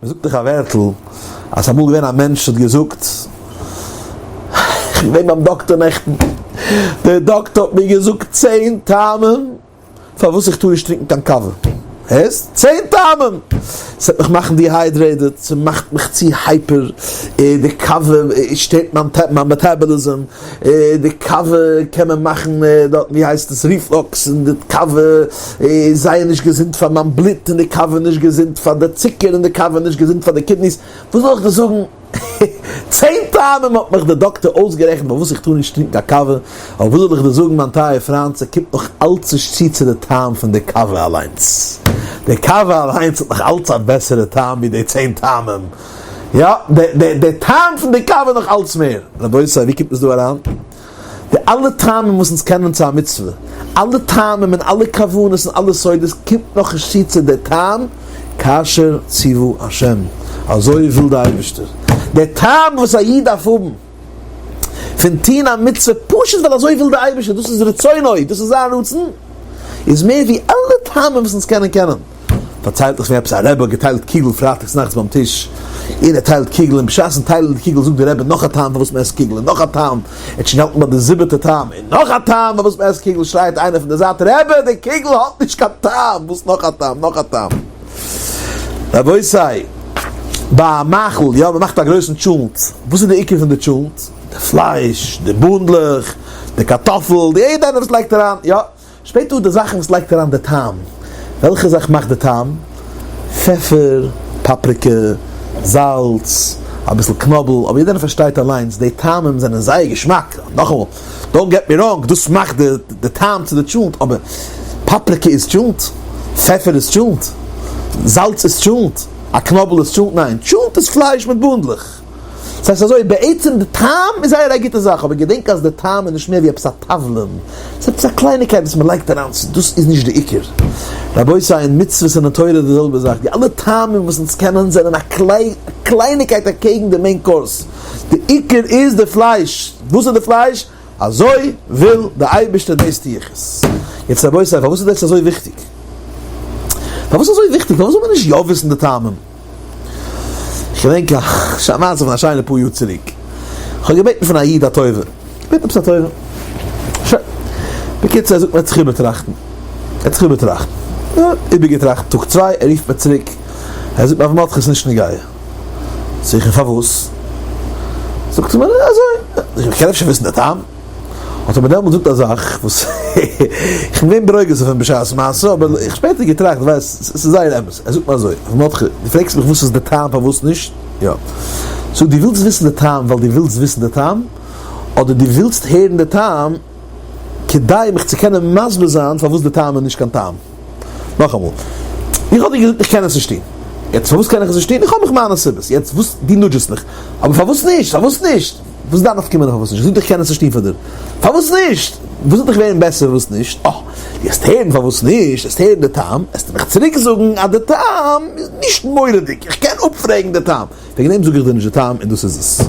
מ'זאגט דאך א ווערטל אז ס'איז אמאל געווען א מענטש האט געזאגט, איך בין געווען ביים דאקטאר נעכטן, דער דאקטאר האט מיר געזאגט צען טעמים פארוואס איך טאר נישט טרינקן קיין קאווע, הערסט? צען טעמים! ס'וועט מיך מאכן דיהיידרעיטעד, ס'מאכט מיך צו הייפער, די קאווע שטערט מיין מעטאבאליזם, די קאווע קען מען מאכן דארטן ווי הייסט עס ריפלאקס און די קאווע איז זייער נישט געזונט פאר מיין בלוט און די קאווע איז נישט געזונט פאר די צוקער און די קאווע איז נישט געזונט פאר די קידניס, וואס זאל איך דיר זאגן צען טעמים האט מיך די דאקטער אויסגערעכנט פארוואס איך טאר נישט טרינקן א קאווע, אבער וואס זאל איך דיר זאגן מיין טייער פריינט ס'קומט נאך אלץ נישט צו צו די טעם פון די קאווע אליינס, די קאווע אליינס האט נאך אלץ א בעסערע טעם ווי די צען טעמים. יא, די טעם פון די קאווע נאך אלץ מער. רבותי, ווי קומט עס דא אריין? די אלע טעמים וואס אונז קענען צו א מצוה, אלע טעמים און אלע כוונות און אלע סודות, קומט נאך נישט צו צו די טעם כאשר ציוו השם, אזוי וויל די אייבערשטער. די טעם וואס א איד דארף האבן. פון טוהן א מצוה פשוט ווייל אזוי וויל די אייבערשטער, דאס איז רצונו, דאס איז זיין רצון, איז מער ווי אלע טעמים וואס אונז קענען קענען. פארציילט איך פון עפעס א רבי האט געטיילט קיגל פרייטאגס נאכטס ביים טיש, און ער טיילט קיגל און בשעת'ן טיילן די קיגל זאגט די רבי נאך א טעם פארוואס מען עסט קיגל און נאך א טעם, ער האט שוין געהאלטן ביי די זיבעטע טעם און נאך א טעם פארוואס מען עסט קיגל, שרייט איינער פון די זייט רבי די קיגל האט נישט קיין טעם, וואס נאך א טעם נאך א טעם. רבותי, ביי א מאכל, יא, מ'מאכט א גרויסן טשולנט, וואס איז די עיקר פון די טשולנט? די פלייש, די בונדלעך, די קארטאפל, די יעדע איינער וואס לייגט אריין, יא, שפעט איז די זאכן וואס לייגט אריין די טעם, וועלכע זאך מאכט די טעם? פעפער, פאפריקע, זאלץ, אביסל קנאבל, אבער יעדע איינער פארשטייט אליינס, די טעמים זענען זייער געשמאק, נאכאמאל. דאנט געט מי ראנג, דאס מאכט די טעם צו די טשולנט, אבער פאפריקע איז טשולנט? פעפער איז טשולנט? זאלץ איז טשולנט? א קנאבל איז טשולנט? ניין, טשולנט איז פלייש מיט באנדלעך. עס הייסט אזוי, בעצם די טעם איז זייער א גוטע זאך, אבער געדענק אז די טעם איז נישט מער ווי עפעס א תבלין, עס איז עפעס א קלייניגקייט וואס מען לייגט אריין, דאס איז נישט די עיקר. רבותי, אין מצוות און אין תורה איז די זעלבע זאך, די אלע טעמים וואס אונז קענען זענען א קלייניגקייט אקעגן די מעין קאורס. די עיקר איז די פלייש, וואס איז די פלייש? אזוי וויל די אייבערשטער דאס טו איך עס. יעצט רבותי פארוואס איז דאס אזוי וויכטיג? פארוואס אזוי וויכטיג? פארוואס זאל מען נישט יא וויסן די טעמים? כ'געדענק א מעשה פון א שיינע פאר יאר צוריק, כ'האב געבעטן פון א איד א טובה, געבעטן עפעס א טובה, שוין, בקיצור ער זאגט מיר ער האט זיך איבערטראכטן, ער האט זיך איבערטראכטן, איבערגעטראכט טאג צוויי, ער רופט מיר צוריק, ער זאגט מיר אויף מאטכעס נישט נוגע. זאג איך אים פארוואס? זאגט ער מיר נו אזוי, איך קען אפשר וויסן די טעם? האט ער מיר דעמאלטס געזאגט א זאך וואס איך בין געווען ברוגז אויף אים בשעת מעשה אבער איך האב שפעטער געטראכט די ווייסט עס איז זייער אמת, ער זאגט מיר אזוי הרב מרדכי די פרעגסט מיך וואס איז די טעם פארוואס נישט? יא סאו די ווילסט וויסן די טעם ווייל די ווילסט וויסן די טעם אדער די ווילסט הערן די טעם כדי מיך צו קענען מסביר זיין פארוואס די טעם איז נישט קיין טעם? נאכאמאל, איך האב דיר געזאגט איך קען עס נישט טון, יעצט פארוואס קען איך עס נישט טון? איך האב מיך מיינע סיבות, יעצט וואס דו נודזשעסט מיך, אבער פארוואס נישט? פארוואס נישט? וואס איז דיין נפקא מינה פארוואס נישט? איך זאג דיר איך קען עס נישט טון פאר דיר, פארוואס נישט? וואס וועט דיך ווערן בעסער וואס נישט? אה, דו העסט הערן פארוואס נישט, העסט הערן די טעם, העסטו מיך צוריק זאגן אז די טעם איז נישט מורא'דיג, איך קען אפפרעגן די טעם. וועגן דעם זאג איך דיר נישט די טעם און דאס איז עס.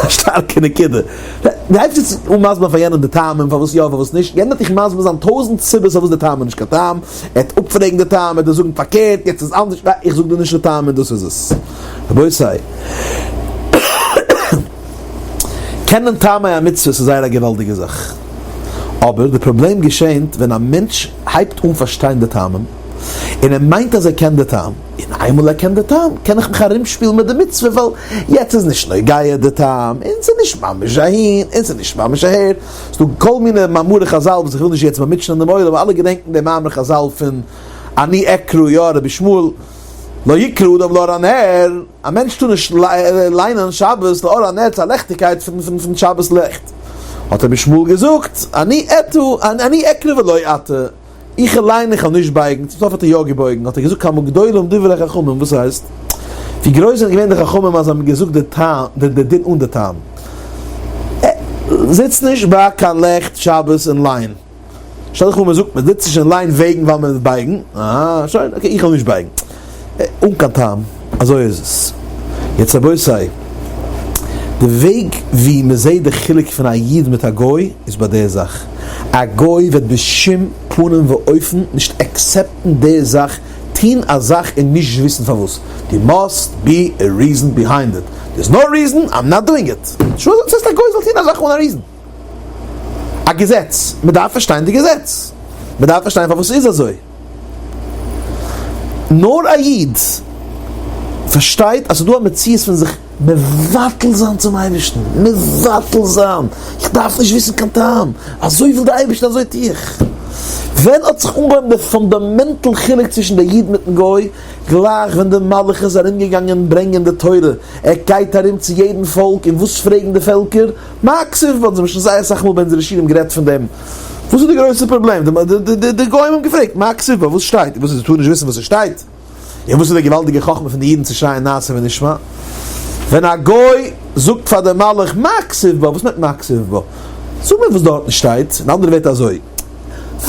א שטארקע נקודה. די הייבסט יעצט אן מסביר פאר יענעם די טעמים פארוואס יא פארוואס נישט, יענער וועט דיך מסביר זיין טויזנט סיבות פארוואס די טעם איז נישט קיין טעם, ער וועט אפפרעגן די טעם, ער וועט דיר זאגן פארקערט, יעצט איז אנדערש, איך זאג דיר נישט די טעם און דאס איז עס. רבותי. קענען טעמי המצוות איז זייער א געוואלדיגע זאך. אבער די פראבלעם געשענט ווען א מענטש הייבט אן פארשטיין די טעמים, און ער מיינט אז ער קען די טעם. און איינמאל ער קען די טעם קען איך מיך ארומשפילן מיט די מצוה ווייל יעצט איז נישט נוגע די טעם און ס'איז נישט ממש אהין און ס'איז נישט ממש אהער. ס'דא כל מיני מאמרי חזל וואס איך וויל נישט יעצט באמוטשענען דעם עולם, אלע געדענקן דעם מאמר חזל פון אני אקרא יא רבי שמואל לא יקרא אדם לאור הנר, א מענטש טאר נישט ליינען שבת לאור הנר צו א לעכטיגקייט פון שבת לעכט, האט רבי שמואל געזאגט אני אתו אני אקרא ולא אתה. איך אליין איך וועל נישט בייגן, צום סוף האט ער יא געבויגן, האט ער געזאגט כמה גדולים דברי חכמים, וואס הייסט? ווי גרויס זענען געווען די חכמים אז זיי האבן געזאגט די טעם, די די דין אן די טעם? זיץ נישט ביי קיין לעכט שבת און ליין, שטעל דיך פאר מען זאגט מען זיצט נישט און ליין וועגן ווייל מען וועט בייגן, אה שוין אקעי איך וועל נישט בייגן. אן קיין טעם, אזוי איז עס. יעצט רבותי, די וועג ווי מען זעט די חילוק פון א איד מיט א גוי איז ביי די זאך, א גוי וועט בשום פנים ואופן נישט עקסעפטן די זאך, טון א זאך און נישט וויסן פארוואס, דער מאסט בי א ריזען ביהיינד איט, דער איז נאו ריזען איים נאט דואינג איט, שוין, וואס הייסט א גוי זאל טון א זאך אן א ריזען? א געזעץ, מען דארף פארשטיין די געזעץ, מען דארף פארשטיין פארוואס ס'איז אזוי. נאר א איד פארשטייט אז ס'איז דא א מציאות פון זיך מבטל זיין צום אייבערשטן, מבטל זיין, איך דארף נישט וויסן קיין טעם, אזוי וויל דער אייבערשטער אזוי טו איך. ווען האט זיך אנגעהויבן דער פונדאמענטל חילוק צווישן דער איד מיטן גוי? גלייך ווען דער מלאך איז ארומגעגאנגען ברענגען די תורה, ער גייט ארום צו יעדן פאלק און וואס פרעגן די פעלקער? מה כסוף וואלטן זיי שוין זייער סאך מאל ביי אונזערע שיעורים גערעדט פון דעם. וואס איז די גרויסע פראבלעם? די גוים האבן געפרעגט מה כסוף ביי וואס שטייט? וואס איז די טאר נישט וויסן וואס עס שטייט? און וואס איז די געוואלדיגע חכמה פון די אידן צו שרייען נעשה ונשמע? ווען א גוי זאגט פאר די מלאך מה כסוף ביי וואס מיינט מה כסוף ביי? זאג מיר וואס דארטן שטייט. אין אנדערע ווערטער אזוי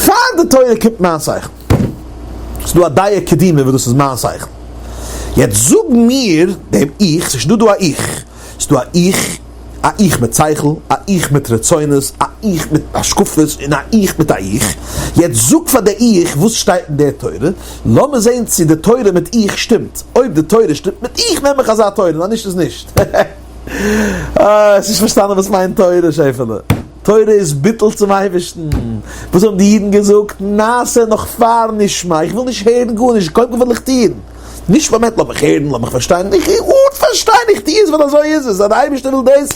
פאר די תורה קומט מיין שכל. ס'איז דא א דיעה קדימה וואס דאס איז מיין שכל. יעצט זאג מיר דעם איך, ס'איז שוין דא דא א איך. ס'איז דא א איך. א איך מיט שכל, א איך מיט רצונות, א איך מיט השקפות, און א איך מיט א איך. יעצט זאג פאר די איך וואס שטייט אין די תורה, לאמיר זעהן צו די תורה מיט איך שטימט, אויב די תורה שטימט מיט איך נעם איך אזא תורה און אז נישט איז נישט. אה, האסט נישט פארשטאנען וואס מיינט תורה שעפעלע. תורה איז ביטול צום אייבערשטן. וואס האבן די אידן געזאגט? נעשה נאך פאר נשמע, איך וויל נישט הערן גארנישט, קודם כל וויל איך טון. נישט פארמעט, לאמיך הערן, לאמיך פארשטיין, איך הער אן פארשטיין, איך טו עס ווייל אזוי איז עס, אז די אייבערשטער וויל דאס,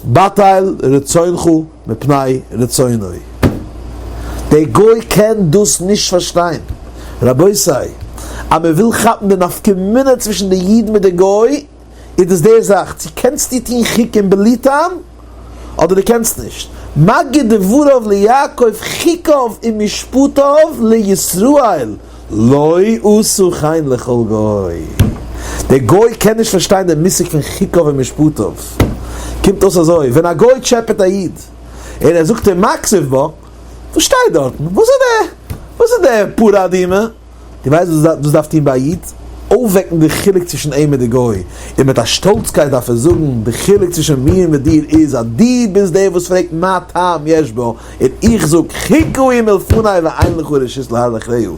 בטל רצונך מפני רצונו, דער גוי קען דאס נישט פארשטיין, רבותי, אז מען וויל כאפן די נפקא מינה צווישן די איד מיט די גוי, איז דאס די זאך צו קענסטו טון חוקים בלי טעם אדער דו קענסט נישט, מגיד דבריו ליעקב חוקיו ומשפטיו לישראל לא עשו חן לכל גוי, דער גוי קען נישט פארשטיין דעם מושג פון חוקיו ומשפטיו, קומט אויס אזוי ווען א גוי טשעפעט א איד און ער זאגט אים מקצף בו, וואס שטייט דארטן? וואס איז די פאראדימע? די ווייסט וואס דאס דארף טון ביי א איד? אויפוועקן די חילוק צווישן אים מיט די גוי, און מיט א שטאלצקייט דארף ער זאגן, די חילוק צווישן מיר מיט דיר איז אז דו ביסט דער וואס פרעגט מה טעם יש בו, און איך זאג חיקו אים מלפני ואין לך רשות להלך רעהו.